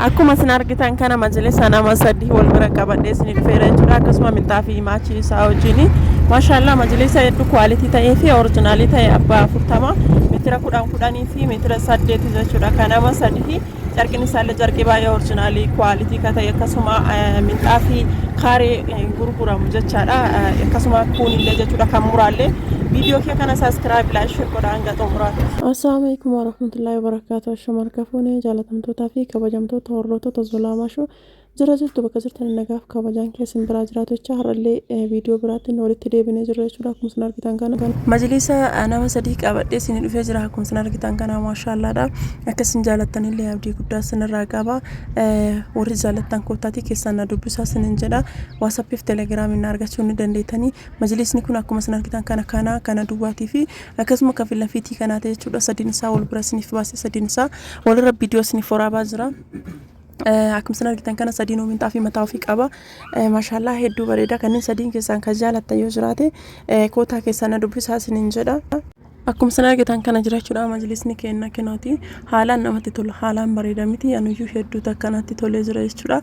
Akkuma isin argitan kana majlisa nama sadii wal bira qabadhee isin dhufeera jechuudha akkasuma minxaa fi maachii isaa wajjin maashaallah majlisa hedduu kwaalitii ta'ee fi orijinaalii ta'e abbaa afurtama meetira kudhan kudhanii fi meetira saddeeti jechuudha kan nama sadii carqiin isaallee carqii baay'ee orijinaalii kwaalitii ka ta'e akkasuma minxaa fi kaaree gurguramu jechaadha akkasuma kuunillee jechuudha kan muraallee viidiyoo kee kana saskiraayib laayik sheer godha hanga xumuraatti. Assalaamu alaikum warahmatullahi wabarakatuh. Shamarka fuunee jaalata. Kabajamtootaa fi kabajamtoota hordoftoota Zolaamaa Shoo jira jirtu bakka jirtan nagaaf kabajaan kee isin biraa jiraatu jecha har'allee viidiyoo biraatiin walitti deebinee jirra jechuudha akkuma isin argitan kana. Majliisa nama sadii qabadhee isin dhufee jira akkuma isin argitan kana maashaallaadha akka isin jaalattanillee abdii guddaa isinirraa qaba warri jaalattan koottaatii keessaan na dubbisaa isinin jedha waasappiif telegiraamiin na argachuu ni dandeettanii majliisni kun akkuma isin argitan kana kana kana duwwaatii fi Akkasuma ka fila fiitii kanaate jechuudha sadiin isaa wal bira isiniif baase sadiin isaa walirra viidiyoo isiniif waraabaa jira. Akkuma isin argitan kana sadiinuu minxaa fi mataa ofii qaba. Maashaallah hedduu bareeda kanneen sadiin keessaan kan jaalattan yoo jiraate kootaa keessaan na dubbisaa isiniin jedha. Akkuma isin argitan kana jirachuudha majlisni keenna kinooti haalaan namatti tola haalaan bareeda miti anuyyuu hedduu takka natti tolee jira jechuudha.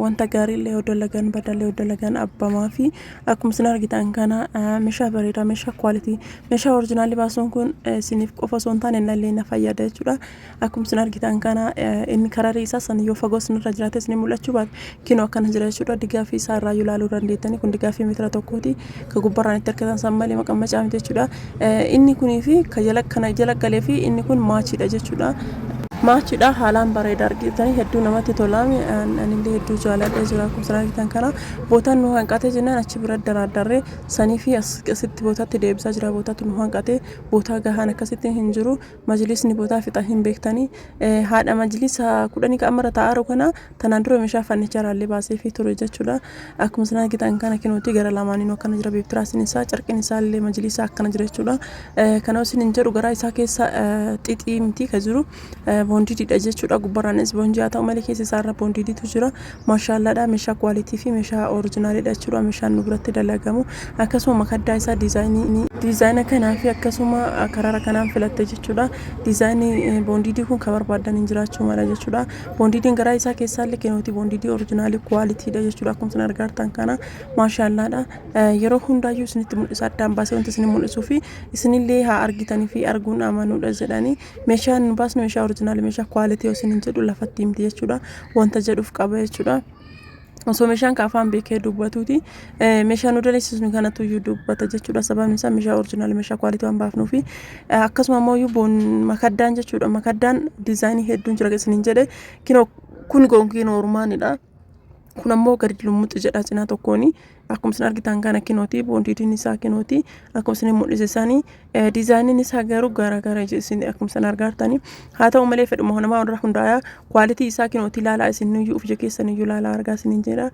Wanta gaariillee yoo dalagan badallee yoo dalagan abbamaa fi Akkuma isin argitan kana meeshaa bareedaa meeshaa quality meeshaa originaalli baasuun kun isiniif qofa osoo hin taane nallee na fayyada jechuudha. Akkuma isin argitan kana inni kararii isaa san yoo fagoo isinirra jiraate isin mul'achuu baate kinoo akkana jira jechuudha. Digaafii isaa irraa yoo ilaaluu dandeettani kun digaafii meetira tokkooti ka gubbarraan itti argitan san malee maqammacaa miti jechuudha. Inni kunii fi ka jala kana jala galee fi inni kun maachiidha jechuudha. Maachiidha haalaan bareeda argitanii hedduu namatti tolaami anillee hedduu jaaladha jira akkuma isin argitan kana Botan nu hanqate jennan achi bira daraaddarre sanifi asitti botatti deebisaa jira botatu nu hanqate botaa gahaan akkasitti hin jiru majlisni botaa fixa hin beektani haadha majlisa kudhanii ka ammarra taa'aaru kana tanaan dura meeshaa fannichaa raallee baasee fi ture jechuudha akkuma sana gitan kana kinuuti gara lamaaniin akkana jira beektiraasiin isaa carqin isaa illee majlisa akkana jira jechuudha kana isin hin jedhu garaa isaa keessa xixii miti ka jiru boondiididha jechuudha. Gubbarraanis boonjii haa ta'u malee keessa isaarra boondiiditu jira. Maashaallaadha meeshaa kwaalitii fi meeshaa orijinaaliidha jechuudha. Meeshaan nu biratti dalagamu akkasuma makaddaa isaa diizaayinii diizaayina kanaa fi akkasuma karara kanaan filatte jechuudha. Diizaayinii boondiidii kun kan barbaadan hin jiraachuu mala jechuudha. Boondiidiin garaa isaa keessaallee kenooti boondiidii orijinaalii kwaalitiidha jechuudha. Akkuma isin argaartan kana maashaallaadha. Yeroo hundaayyuu isinitti mul'isa addaan baasee wanti isin mul'isuu fi isinillee haa argitanii fi arguun amanuudha jedhanii Meeshaan nu baasnu meeshaa orijinaali meeshaa kwaalitii osin hin jedhu lafatti himti jechuudha. Wanta jedhuuf qaba jechuudha. Osoo meeshaan ka afaan beekee dubbatuuti meeshaa nu dandeessisnu kanatu iyyuu dubbata jechuudha. Sababni isaa meeshaa orijinaali meeshaa kwaalitii waan baafnuu fi akkasuma immoo iyyuu boon makaddaan jechuudha. Makaddaan diizaayinii hedduun jira isin hin jedhe kinoo kun gonkiin ormaanidha. kun ammoo gadi lummuxxi jedha cinaa tokkoon akkuma isin argitan kana kinooti boondiitiin isaa kinooti akkuma isin mul'ise isaanii diizaayiniin isaa garuu garaagara isin akkuma isin argartani haa ta'u malee fedhuma namaa irra hundaaya kwaalitii isaa kinooti ilaalaa isin iyyuu of ija keessan iyyuu ilaalaa argaa isiniin jedha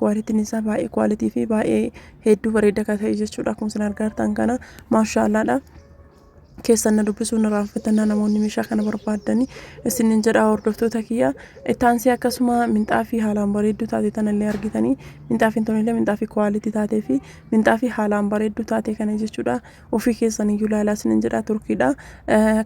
kwaalitiin isaa baay'ee kwaalitii fi baay'ee hedduu bareeda kan ta'e jechuudha akkuma isin argartan kana maashaallaadha. keessan na dubbisuu na raanfatannaa namoonni meeshaa kana barbaaddani isinin jedha hordoftoota kiyya ittaansee akkasuma minxaafii haalaan bareedduu taate tanallee argitanii minxaafiin tonillee minxaafii kwaalitii taatee fi minxaafii haalaan bareedduu taate kana jechuudha ofii keessan iyyuu laalaa isinin jedha turkiidha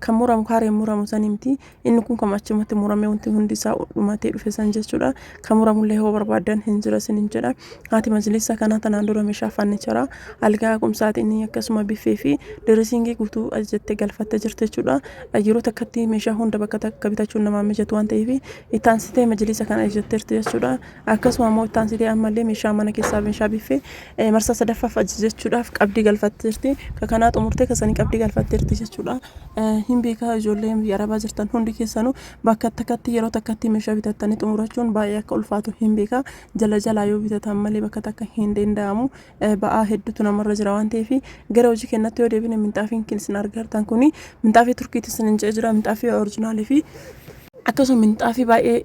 kan muramu kaareen muramu sanimti Inni kun kan achumatti muramee wanti hundi isaa dhumatee dhufe san jechuudha. Kan muramullee hoo barbaadan hin jira isiniin jedha. Haati majlisa kanaa tanaan dura meeshaa fannichara algaa qumsaatiin akkasuma biffee fi dirisiingii guutuu ajajattee galfattee jirti jechuudha. Yeroo takkatti meeshaa hunda bakka takka bitachuun namaa mijatu waan ta'eef itti aansitee majlisa kana ajajatteerti jechuudha. Akkasuma ammoo itti aansitee ammallee meeshaa mana keessaa meeshaa biffee eh, marsaa sadaffaaf ajajachuudhaaf qabdii galfatteerti. Ka kanaa xumurtee kasanii qabdii galfatteerti jechuudha. Eh, Hin beekaa ijoollee biyya arabaa jirtan hundi keessanuu bakka takkatti yeroo takkatti meeshaa bitattanii xumurachuun baay'ee akka ulfaatu hin beekaa. Jala jalaa yoo bitatan malee bakka takka hin danda'amu. Eh, Ba'aa hedduutu namarra jira waan ta'eef gara hojii kennatti yoo deebine minxaafiin kan isin argartan kuni minxaafii turkiitti isin hin jira minxaafii orjinaalii fi akkasuma minxaafii baay'ee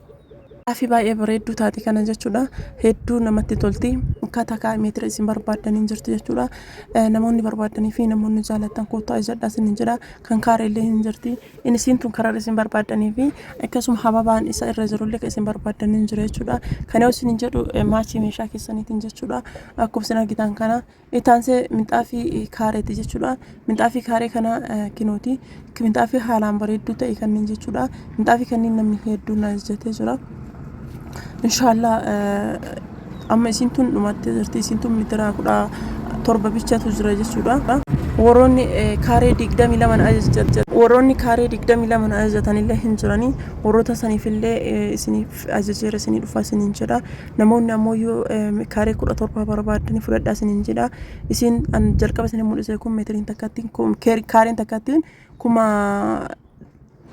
Gaafii baay'ee bareedduu taati kana jechuudha. Hedduu namatti tolti. Ka takaa meetira isin barbaaddan hin jirtu jechuudha. Eh, Namoonni barbaaddanii fi namoonni jaalattan koottaa ijadhaa isin hin jedha. Kan kaare illee hin jirti. Inni isiin tun karar isin barbaaddanii fi akkasuma hababaan isa irra jiru illee ka isin barbaaddanii hin jira jechuudha. Kana yoo isin hin jedhu eh, maachii meeshaa keessaniitiin jechuudha. Akkuma isin argitan kana Itti aansee minxaafii kaareeti jechuudha. Minxaafii kaaree kana kinooti. Minxaafii haalaan bareedduu ta'e kanneen jechuudha. Minxaafii kanneen namni hedduun na ajajatee jira. Inshaallah amma isiin tun dhumattee jirti. Isiin tun mitiraa kudha torba bichatu jira jechuudha. Warroonni kaaree digdamii lama na ajajatan warroonni kaaree digdamii lama na ajajatan illee hin jirani. Warroota saniif illee isiniif ajajeera isinii dhufa isiniin jedha. Namoonni ammoo yoo kaaree kudha torba barbaaddanii fudhadhaa isiniin jedha. Isin an jalqaba isin mul'ise kun meetiriin takkattiin kun keer- kaareen takkattiin kuma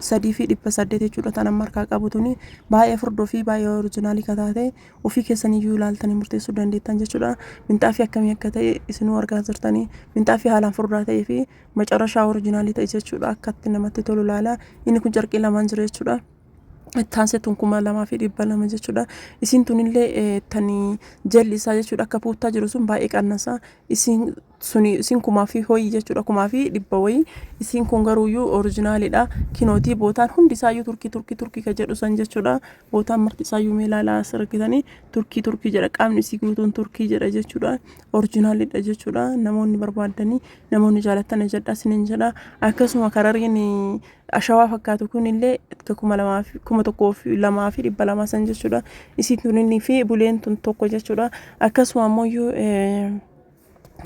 sadii fi dhibba saddeet jechuudha tan amma harkaa qabu tuni baay'ee furdoo fi baay'ee orijinaalii ka taate ofii keessanii iyyuu ilaaltanii murteessuu dandeettan jechuudha. Minxaafii akkamii akka ta'e isinuu argaa jirtanii minxaafii haalaan furdaa ta'ee fi macarashaa orijinaalii ta'e jechuudha akkatti namatti tolu ilaala. Inni kun carqii lamaan jira jechuudha. ittaansetuun kuma lamaa fi dhibba lama jechuudha. Isiin tunillee eh, tanii jalli isaa jechuudha akka puuttaa jiru sun baay'ee qannasa. Isiin suni isiin kumaa fi hoyii jechuudha kumaa fi dhibba wayii. Isiin kun garuuyyuu orijinaalidha. Kinootii bootaan hundi isaayyuu turkii turkii turkii ka jedhu san jechuudha. Bootaan marti isaayyuu mee ilaalaa as argitanii turkii turkii jedha qaamni isii guutuun turkii jedha jechuudha. Orijinaalidha jechuudha. Namoonni barbaadanii namoonni jaalatan ajadhaa isiniin jedha. Akkasuma karariin eh, Ashawaa fakkaatu kun illee ka kuma lamaa fi kuma tokkoo fi lamaa fi dhibba lamaa san jechuudha. Isiin tuninii fi buleen tun tokko jechuudha. Akkasuma ammoo iyyuu eh,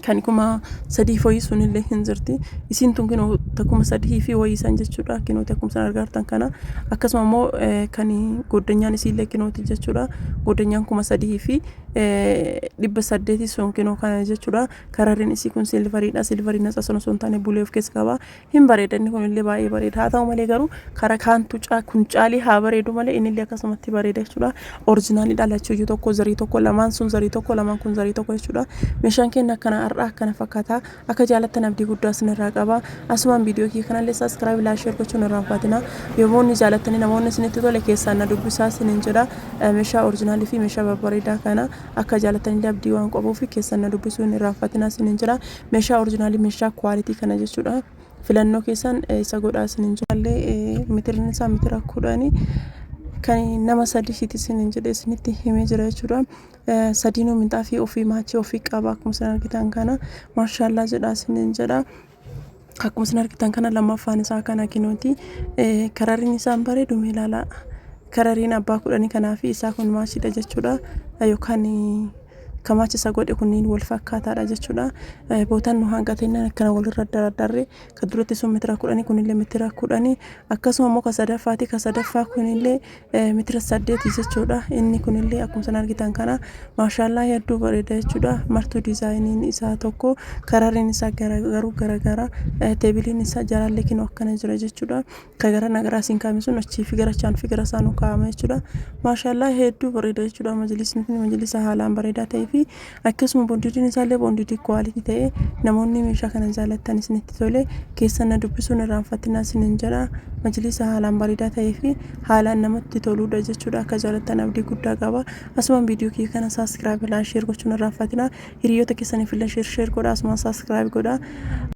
kan kuma sadii fi wayii sun illee hin jirti. Isiin tun kinoo ta kuma sadii fi wayii san jechuudha. Kinoo ta kuma san argaartan kana. Akkasuma ammoo eh, kan goddanyaan isii illee kinooti jechuudha. Goddanyaan kuma sadii fi eh, dhibba saddeeti sun kinoo kana jechuudha. Kararriin isii kun silvariidha. Silvariin natsa sun osoo hin taane bulee of keessa qaba. hin bareeda inni kun illee baay'ee bareeda haa ta'u malee garuu kara kaantu kun caalee haa bareedu malee inni illee akkasumatti bareeda jechuudha orjinaalii dhalachuu iyyuu tokko zarii tokko lamaan sun zarii tokko lamaan kun zarii tokko jechuudha meeshaan keenya akkana har'aa akkana fakkaata akka jaalattan abdii guddaa sinirraa qaba asumaan viidiyoo kiyya kanallee saskiraayib laa sheer gochuun irraa faatina yomoonni jaalattanii namoonni isinitti tole keessaan na dubbisaa sinin jedha meeshaa orjinaalii fi meeshaa babbareedaa kana akka jaalattanillee abdii waan qabuu fi keessaan na dubbisuu hin irraa faatina sinin jedha Meshaa orjinaalii meshaa quality kana jechuudha filannoo keessan isa godhaa isin hin jaalle mitirin isaa mitira kudhani kan nama sadii siiti isin hin jedhe isinitti himee jira jechuudha sadiinuu minxaafii ofii maachii ofii qaba akkuma isin argitan kana maashaallaa jedha isin hin jedha akkuma isin argitan kana lammaffaan isaa kana kinooti karariin isaan bareedu mee ilaalaa karariin abbaa kudhanii kanaa fi isaa kun maashiidha jechuudha yookaan Kamachi isa godhe kunniin wal fakkaataadha jechuudha. Bootaan nu hanqatennaan akkana walirra dardarre ka duratti sun mitira kudhanii kunillee mitira kudhanii akkasuma immoo ka sadaffaati ka sadaffaa kunillee mitira saddeeti jechuudha. Inni kunillee akkuma san argitan kana maashaallaa hedduu bareeda jechuudha. Martuu diizaayiniin isaa tokko kararriin isaa garuu garagara teebiliin isaa jalaallee kinoo akkana jira jechuudha. Ka gara na garaa siin kaa'ame sun achii fi gara chaan fi gara isaa nu kaa'ama jechuudha. Maashaallah hedduu bareeda jechuudha majlisni kun majlisa haalaan bareedaa ta'ee fi akkasuma bondiidiin isaallee bondiidii kuwaalitii ta'ee namoonni meeshaa kana jaallattan isinitti tole keessan na dubbisuun irraanfatinaa isinin jedha majlisa haalaan bareedaa ta'ee fi haalaan namatti toluudha jechuudha akka jaallattan abdii guddaa qaba asumaan viidiyoo kiyya kana saaskiraayib ilaa sheer gochuun irraanfatinaa hiriyoota keessaniif illee sheer sheer godha asumaan saaskiraayib godha